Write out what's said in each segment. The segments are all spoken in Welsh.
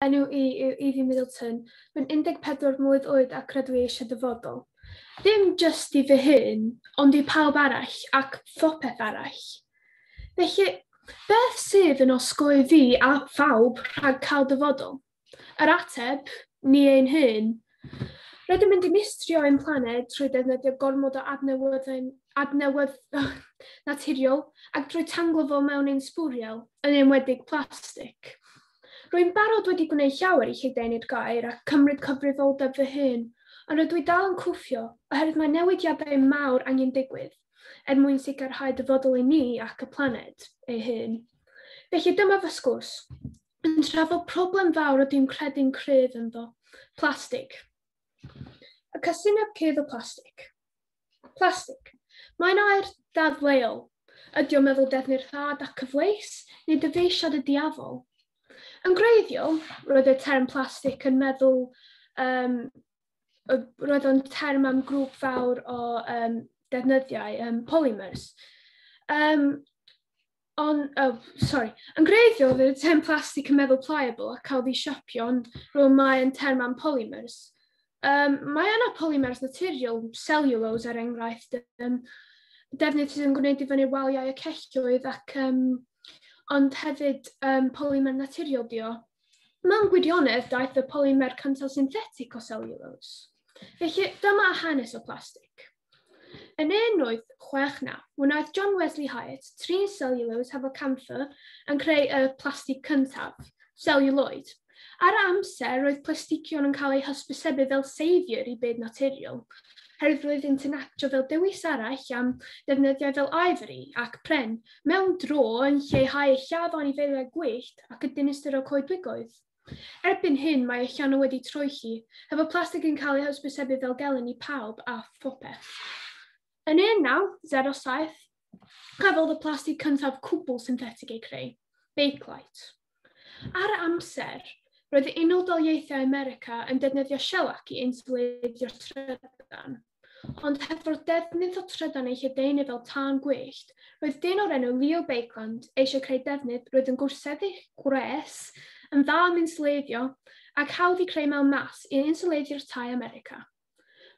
Enw i yw Evie Middleton. Rwy'n 14 mlwydd oed ac rydw i eisiau dyfodol. Dim jyst i fy hun, ond i pawb arall ac phopeth arall. Felly, beth sydd yn osgoi fi a phawb rhag cael dyfodol? Yr ateb, ni ein hun. Rydym yn dinistrio ein planed trwy ddefnyddio gormod o adnewyddau adnewydd, naturiol ac drwy tanglo fo mewn ein sbwriel, yn enwedig plastig. Rwy'n barod wedi gwneud llawer i lledaenu'r gair ac cymryd cyfrifoldeb fy hun, ond rydw i dal yn cwffio oherwydd mae newidiadau mawr angen digwydd er mwyn sicrhau dyfodol i ni ac y planed ei hun. Felly dyma fy sgwrs. yn trafod problem fawr a dwi'n credu'n cryf ynddo, plastig. Y casineb cryf o plastig. Plastig. Mae'n air ddadleuol. Ydy o'n meddwl defnydd rhad ac cyfleus, neu dyfeisiad y diafol? Yn greiddiol, roedd y term plastig yn meddwl um, roedd o'n term am grŵp fawr o um, defnyddiau, um, polymers. Um, On, oh, sorry. Yn greiddiol, fydd y term plastig yn meddwl pliable ac cael ei siapio, ond rwy'n mae'n term am polymers. Um, mae yna polymers naturiol, cellulose er enghraifft, um, defnydd sydd yn gwneud i fyny waliau y celloedd ac um, ond hefyd um, polymer naturiol dio. Mewn gwirionedd, daeth y polymer cyntaf synthetic o cellulose. Felly, dyma hanes o plastig. Yn 1869, wnaeth John Wesley Hyatt trin seliwlos hefo camfer yn creu y plastig cyntaf, seliwloid. Ar y amser, roedd plastigion yn cael eu hysbysebu fel saviour i byd naturiol, herwydd roedd yn actio fel dewis arall am ddefnyddiau fel ivory ac pren, mewn dro yn lleihau lladd o anifeiliaid gwyllt ac y dinistr o coedwigoedd. Erbyn hyn mae y llanw wedi troelli, hefo plastig yn cael ei hysbysebu fel gelyn i pawb a phopeth. Yn 1907, cafodd y plastig cyntaf cwbl synthetig ei creu, Bakelite. Ar y amser, roedd Unol Daleithiau America yn defnyddio shellac i insuleiddio'r trydan. Ond heb fod defnydd o trydan ei lledaenu fel tân gwyllt, roedd dyn o'r enw Leo Bakeland eisiau creu defnydd roedd yn gwrseddu gwres, yn dda am insuleiddio, ac hawdd i creu mewn mas i insuleiddio'r tai America.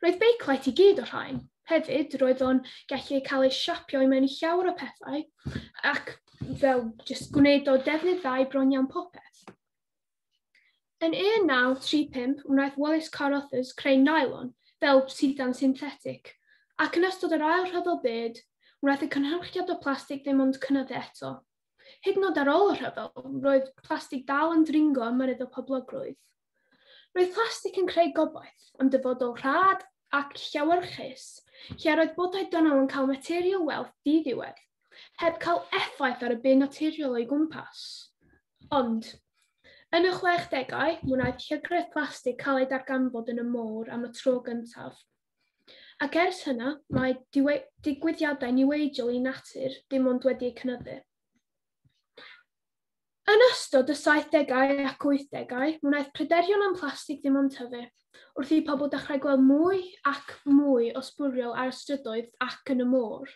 Roedd Bakelite i gyd o rhain. Hefyd, roedd o'n gallu cael ei siapio i mewn i llawer o pethau ac fel just gwneud o defnydd dda i bron iawn popeth. Yn 1935 wnaeth Wallace Carothers creu nylon fel sidan synthetig, ac yn ystod yr Ail Rhyfel Byd, wnaeth y cynhyrchiad o plastig ddim ond cynyddu eto. Hyd yn oed ar ôl y rhyfel, roedd plastig dal yn dringo ym myryd o poblogrwydd. Roedd plastig yn creu gobaith am dyfodol rhad ac llewyrchus, lle yr oedd bodau dynol yn cael material wealth di-ddiwedd, heb cael effaith ar y byd naturiol o'i gwmpas. Ond, yn y chwechdegau, mi wnaeth llygredd plastig cael ei darganfod yn y môr am y tro gyntaf. Ac ers hynna, mae digwyddiadau niweidiol i natur dim ond wedi eu cynyddu. Yn ystod y saithdegau ac wythdegau, mi wnaeth pryderon am plastig ddim ond tyfu, wrth i pobl dechrau gweld mwy ac mwy o sbwriel ar y strydoedd ac yn y môr.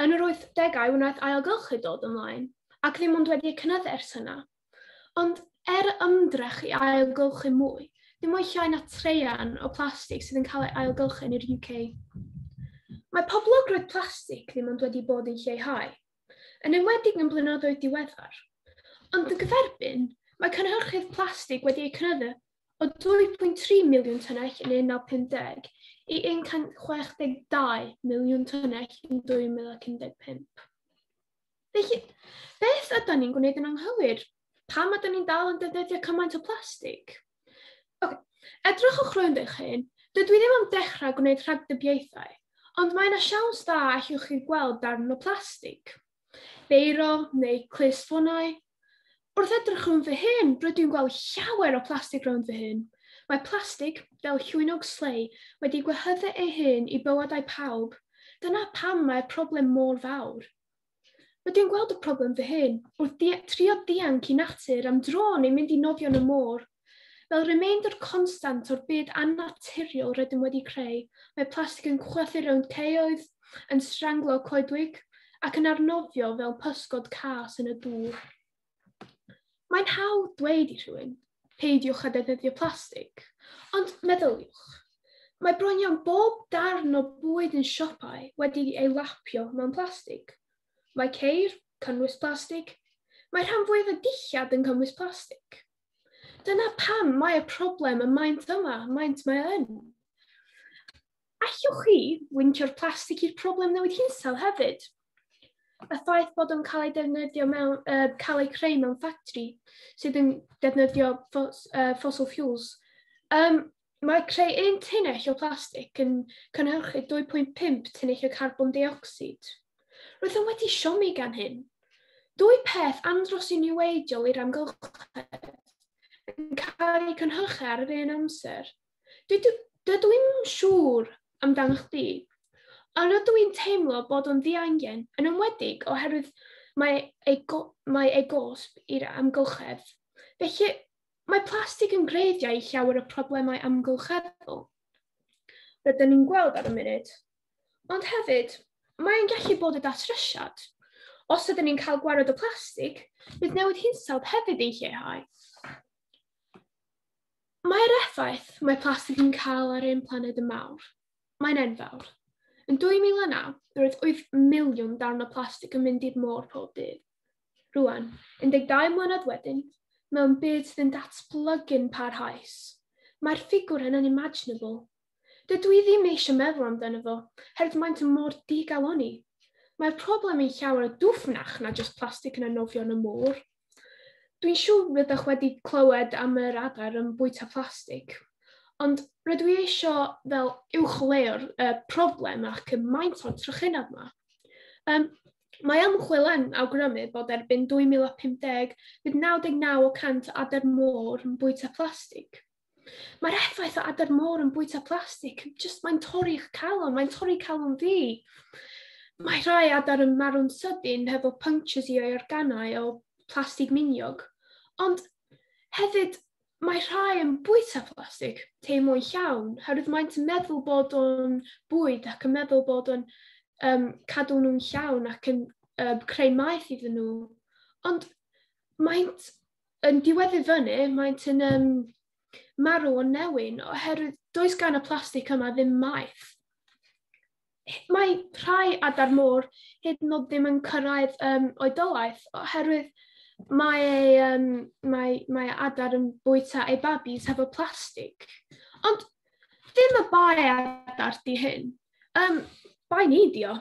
Yn yr 80au wnaeth ailgylch ei dod ymlaen, ac ddim ond wedi ei cynyddu ers yna. Ond er ymdrech i ailgylchu mwy, dim o'i llai na traean o blastig sydd yn cael ei ailgylchu yn yr UK. Mae poblogrwydd plastig ddim ond wedi bod yn lleihau, yn enwedig yn blynyddoedd diweddar. Ond yn gyferbyn, mae cynhyrchydd plastig wedi ei cynyddu o 2.3 miliwn tynnell yn 1950 i 162 miliwn tynnell yn 2015. Felly, beth ydym ni'n gwneud yn anghywir? Pam ydym ni'n dal yn defnyddio cymaint o plastig? Okay. Edrychwch rwy'n eich hyn, dydw i ddim am dechrau gwneud rhagdybiaethau, ond mae yna siawns dda allwch chi gweld darn o plastig. Beiro neu clust ffoniau? Wrth edrych rhwng fy hun, rydw i'n gweld llawer o plastig rownd fy hun. Mae plastig, fel llwynog slei, wedi gwehyddu ei hun i bywydau pawb. Dyna pam mae'r problem mor fawr. Rydw i'n gweld y problem fy hun, wrth trio dianc i natur am dro neu mynd i nofio yn y môr. Fel remainder constant o'r byd annaturiol rydym wedi creu, mae plastig yn chwythu rownd caeoedd, yn stranglo coedwig ac yn arnofio fel pysgod cas yn y dŵr. Mae'n hawdd dweud i rhywun, peidiwch â defnyddio plastig, ond meddyliwch, Mae bron iawn bob darn o bwyd yn siopau wedi ei lapio mewn plastig. Mae ceir, cynnwys plastig. Mae rhan fwyaf y dillad yn cynnwys plastig. Dyna pam mae y problem y maent yma, maent mae yn. Allwch chi wyntio'r plastig i'r problem newid hinsawdd hefyd? y ffaith bod o'n cael ei defnyddio mewn, uh, cael ei creu mewn ffactri sydd yn defnyddio ffos, uh, fossil fuels. Um, Mae creu un tunnell o blastig yn cynhyrchu 2.5 tunnell o carbon deuocsid. Roeddwn wedi siomi gan hyn. Dwy peth andros i niweidiol i'r amgylchedd yn cael eu cynhyrchu ar yr un amser. Dydw, dydw i'n siŵr amdano chdi, ond rydw i'n teimlo bod o'n ddiangen, yn ymwedig oherwydd mae ei, mae ei gosb i'r amgylchedd. Felly, Mae plastig yn greiddiau i llawer o problemau amgylcheddol. Rydyn ni'n gweld ar y munud. Ond hefyd, mae'n gallu bod y datrysiad. Os ydyn ni'n cael gwared o plastig, bydd newid hinsawdd hefyd yn lleihau. Mae'r effaith mae plastig yn cael ar ein planed yn mawr. Mae'n enfawr. Yn 2009, roedd 8 miliwn darn o plastig yn mynd i'r môr pob dydd. Rwan, 12 mlynedd wedyn, mewn byd sydd yn datblygu'n parhaus, mae'r ffigwr yn unimaginable. Dydw i ddim eisiau meddwl amdano fo, herd maent mor digalonni. Mae'r problem yn llawer o dwfnach na jyst plastig yn anofion y môr. Dwi'n siŵr rydych wedi clywed am yr adar yn bwyta plastig, ond rydw i eisiau fel uwchleuo'r uh, problem ac y maint o'r trychineb yma. Um, Mae ymchwil yn awgrymu bod erbyn 2050 bydd 99 o 100 o adar môr yn bwyta plastig. Mae'r effaith o adar môr yn bwyta plastig, jyst mae'n torri eich calon, mae'n torri calon fi. Mae rhai adar yn marw'n sydyn hefo punctures i o'i organau o plastig miniog. Ond hefyd, Mae rhai yn bwyta plastig tei mwy llawn, herwydd maent yn meddwl bod o'n bwyd ac yn meddwl bod o'n um, cadw nhw'n llawn ac yn um, creu maeth iddyn nhw. Ond maent yn diweddu fyny, maent yn um, marw o newyn, oherwydd does gan y plastig yma ddim maeth. mae rhai adar môr hyd yn oed ddim yn cyrraedd um, oedolaeth oherwydd mae, ei, um, mae, mae adar yn bwyta ei babis hefo plastig. Ond ddim y bai adar di hyn. Um, bai ni di o.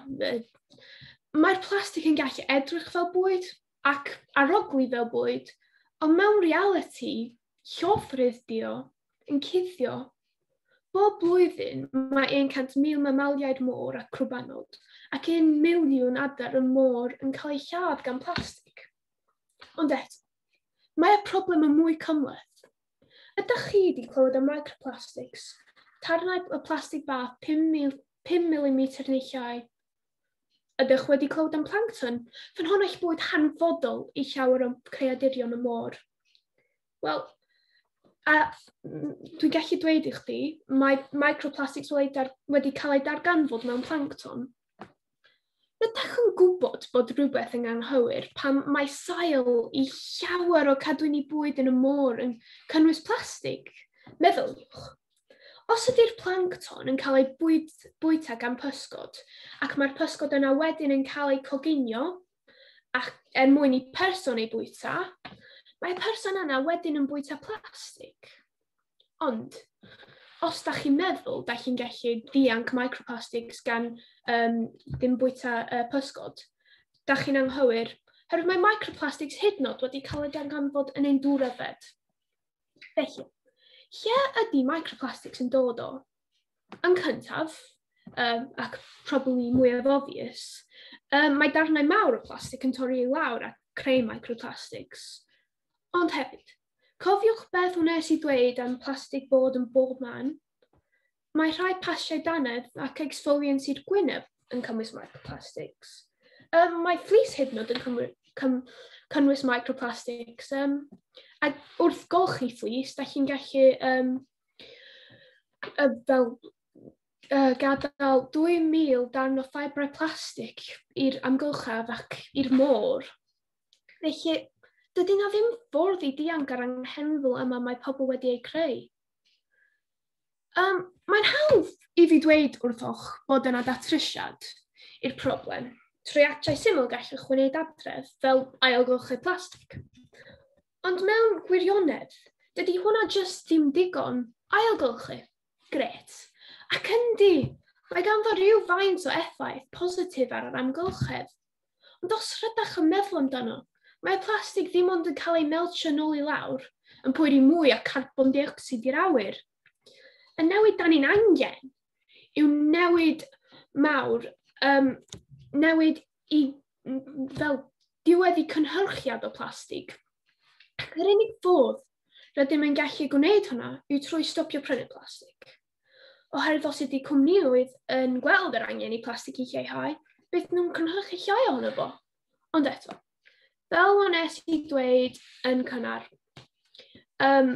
Mae'r plastig yn gallu edrych fel bwyd, ac arogli fel bwyd, ond mewn realiti, llofrudd dio, yn cuddio. Bob blwyddyn mae 100,000 mamaliaid môr a crwbanod ac 1 miliwn adar y môr yn cael eu lladd gan blastig. Ond eto, mae y problem yn mwy cymhleth. Ydych chi wedi clywed am microplastics, tarnau y plastig bach 5 mm neu llai, Ydych wedi clywed am plancton? Fan hon eich bod hanfodol i llawer o creadurion y môr. Wel, a dwi'n gallu dweud i chdi, mae microplastics wedi cael ei darganfod mewn plancton. Rydych yn gwybod bod rhywbeth yn anghywir pan mae sail i llawer o cadwyni bwyd yn y môr yn cynnwys plastig? Meddyliwch, Os ydy'r plancton yn cael ei bwyd, bwyta gan pysgod, ac mae'r pysgod yna wedyn yn cael eu coginio ac er mwyn i person ei bwyta, mae person yna wedyn yn bwyta plastig. Ond, os da chi'n meddwl, da chi'n gallu ddianc microplastics gan um, ddim bwyta uh, pysgod, da chi'n anghywir, herwydd mae microplastics hyd nod wedi cael ei ganfod yn ein dŵr yfed. Felly, lle ydy microplastics yn dod o? Yn cyntaf, um, ac probably mwyaf obvious, um, mae darnau mawr o plastig yn torri i lawr a creu microplastics. Ond hefyd, cofiwch beth wnes i ddweud am plastig bod yn bob man? Mae rhai pasiau dannedd ac exfoliants i'r gwyneb yn cymwys microplastics. Um, mae fleece hyd yn oed yn cymwys, cym, cynnwys microplastics. Um, a wrth golchi fleece, da chi'n gallu um, uh, fel uh, gadael 2,000 darn o ffabrau plastig i'r amgylchaf ac i'r môr. Felly, dydy na ddim ffordd i dianc ar anghenfil yma mae pobl wedi ei creu. Um, Mae'n hawdd i fi dweud wrthoch bod yna datrysiad i'r problem. Treiatiau syml gallwch wneud adref fel ailgylchu plastig. Ond mewn gwirionedd, dydy hwnna jyst ddim digon ailgylchu. Gret. Ac yndi, mae ganddo rhyw faint o effaith positif ar yr amgylchedd. Ond os rydach yn meddwl amdano, mae plastig ddim ond yn cael ei meltio yn ôl i lawr, yn poeri mwy o carbon deuocsid i'r awyr. Y newid dan ni'n angen yw newid mawr, um, newid i fel diwedd i cynhyrchiad o plastig. Ac yr unig fodd rydym yn gallu gwneud hwnna yw trwy stopio prynu plastig. Oherwydd os ydy cwmnïoedd yn gweld yr angen i plastig i lleihau, beth nhw'n cynhyrchu llai ohono fo. Ond eto, fel o'n es i dweud yn cynnar, um,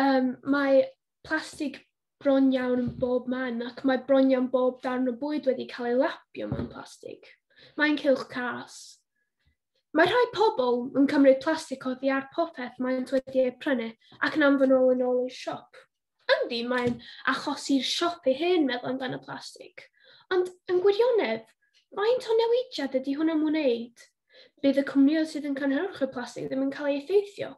um, mae plastig bron iawn yn bob man ac mae bron iawn bob darn o bwyd wedi cael ei lapio mewn plastig. Mae'n cylch cas. Mae rhai pobl yn cymryd plastig oddi ar popeth maent wedi ei prynu ac yn anfon ôl yn ôl i'r siop. Yndi, mae'n achosi'r siop ei hen meddwl amdano plastig. Ond yn gwirionedd, faint o newidiad ydy hwn am wneud? Bydd y cwmnioedd sydd yn cynhyrchu plastig ddim yn cael ei effeithio,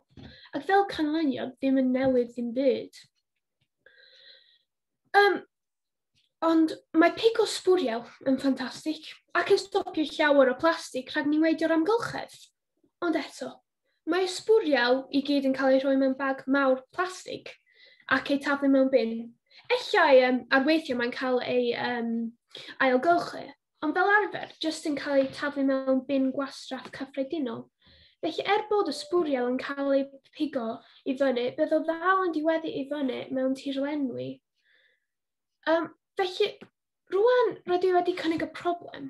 ac fel canlyniad ddim yn newid ddim byd. Um, Ond mae pigo sbwriel yn ffantastig ac yn stopio llawer o plastig rhag niweidio'r amgylchedd. Ond eto, mae y sbwriel i gyd yn cael eu rhoi mewn bag mawr plastig ac eu taflu mewn bin. Ellai um, ar weithiau mae'n cael ei um, ailgylchu, ond fel arfer, jyst yn cael eu taflu mewn bin gwastraff cyffredinol. Felly er bod y sbwriel yn cael ei pigo i fyny, bydd o ddal yn diweddu i fyny mewn tirlenwi. Um, felly, rwan rydw i wedi cynnig y problem.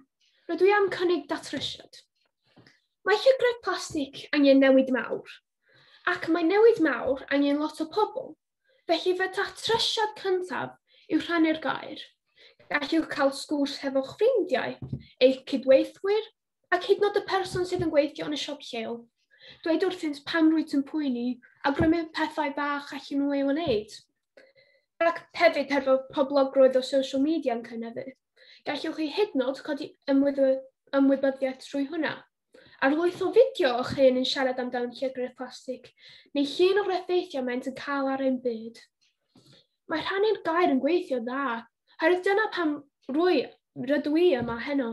Rydw i am cynnig datrysiad. Mae llygredd plastig angen newid mawr, ac mae newid mawr angen lot o pobl. Felly fe datrysiad cyntaf yw rhannu'r gair. Gallwch cael sgwrs hefo'ch ffrindiau, eich cydweithwyr ac hyd nod y person sydd yn gweithio yn y siop lleol. Dweud wrthynt pam rwyt yn pwyni a grymu pethau bach allan nhw ei wneud. Ac hefyd hefo poblogrwydd o social media yn cynnyddu. Gallwch chi hyd nod codi ymwybyddiaeth trwy hwnna. Ar lwyth o fideo o'ch hyn yn siarad amdan llygredd plastig, neu llun o'r effeithiau maent yn cael ar ein byd. Mae rhannu'r gair yn gweithio dda, herwydd dyna pam rwy, rydw i yma heno.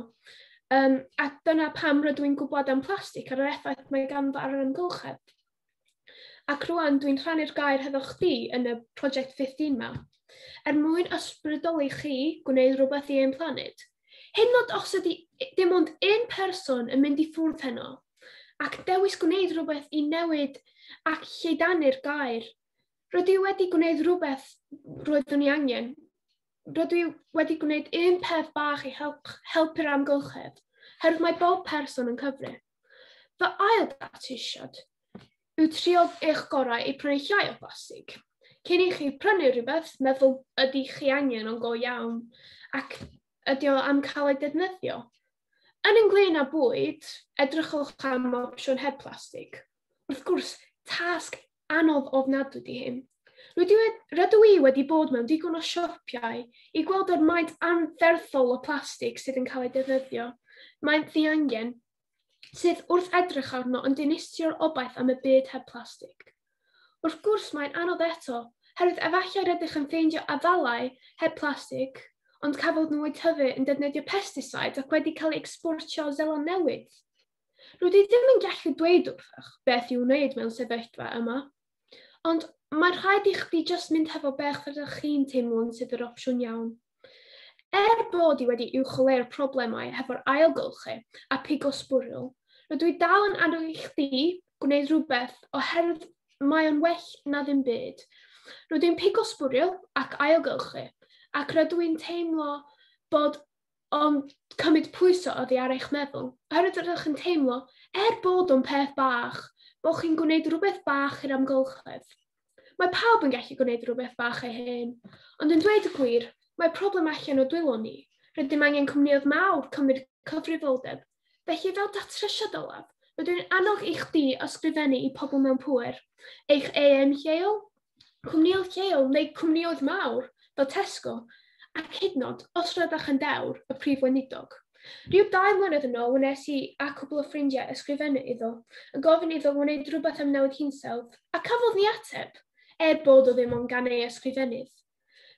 Um, a dyna pam rydw i'n gwybod am plastig ar yr effaith mae ganddo ar yr amgylchedd. Ac rwan dwi'n rhannu'r gair hefo chdi yn y prosiect Fifth yma, er mwyn ysbrydoli chi gwneud rhywbeth i ein planed. Hyn nod os ydy dim ond un person yn mynd i ffwrdd heno, ac dewis gwneud rhywbeth i newid ac lleiddanu'r gair, Roedd i wedi gwneud rhywbeth roeddwn i angen. Roedd i wedi gwneud un peth bach i help, helpu'r amgylchedd, herwydd mae bob person yn cyfri. Fy ail ddatisiad yw trio eich gorau i prynu llai o blastig. Cyn i chi prynu rhywbeth, meddwl ydy chi angen o'n go iawn ac ydy o am cael ei defnyddio. Yn ynglyn â bwyd, edrychwch am opsiwn heb plastig. Wrth gwrs, tasg Anodd ofnadwy di hyn. Rydw i wedi bod mewn digon o siopiau i gweld yr maint anferthol o plastig sydd yn cael ei defnyddio. Mae'n ddiangen sydd wrth edrych arno yn dinistrio'r obaith am y byd heb plastig. Wrth gwrs mae'n anodd eto, herwydd efallai rydych yn ffeindio afalau heb plastig, ond cafod nhw eu tyfu yn defnyddio pesticides ac wedi cael eu exportio o Zeland Newydd. Rydw i ddim yn gallu dweud wrthych beth i'w wneud mewn sefyllfa yma, ond mae rhaid i chdi just mynd hefo beth rydych chi'n teimlo'n sydd yr opsiwn iawn. Er bod i wedi uwcholeu'r problemau hefo'r ailgylchu a pigo sbwriel, rydw i dal yn annog i chdi gwneud rhywbeth oherwydd mae o'n well na ddim byd. Rydw i'n pigo sbwriel ac ailgylchu, ac rydw i'n teimlo bod ond cymryd pwyso oddi ar eich meddwl, oherwydd rydych yn teimlo, er bod o'n peth bach, bod chi'n gwneud rhywbeth bach i'r amgylchedd. Mae pawb yn gallu gwneud rhywbeth bach ei hen, ond yn dweud y gwir, mae problem allan o dwylo ni. Rydym angen cwmnioedd mawr cymryd cyfrifoldeb Felly, fel datrysiad olaf, rydw i'n annog i chdi ysgrifennu i pobl mewn pŵer, eich EM lleol, cwmnioedd lleol neu cwmnioedd mawr fel Tesco, ac hyd nod, os rydych yn dewr, y prif weinidog. Rhyw dau mlynedd yn ôl wnes i a cwbl o ffrindiau ysgrifennu iddo, yn gofyn iddo wneud rhywbeth am newid hinsawdd, a cafodd ni ateb, er bod o ddim ond gan ei ysgrifennydd.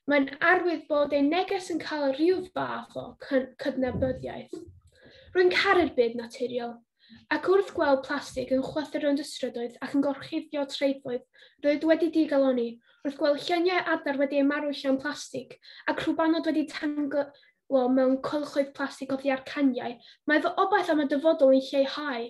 Mae'n arwydd bod ein neges yn cael rhyw fath o cydnabyddiaeth. Rwy'n caru'r byd naturiol, ac wrth gweld plastig yn chwythu rownd y strydoedd ac yn gorchuddio traethoedd, roedd wedi digaloni, wrth gweld lluniau adar wedi eu marw llawn plastig, ac rhubanod wedi tanglo mewn cylchoedd plastig oddi ar caniau, mae fy obaith am y dyfodol yn lleihau.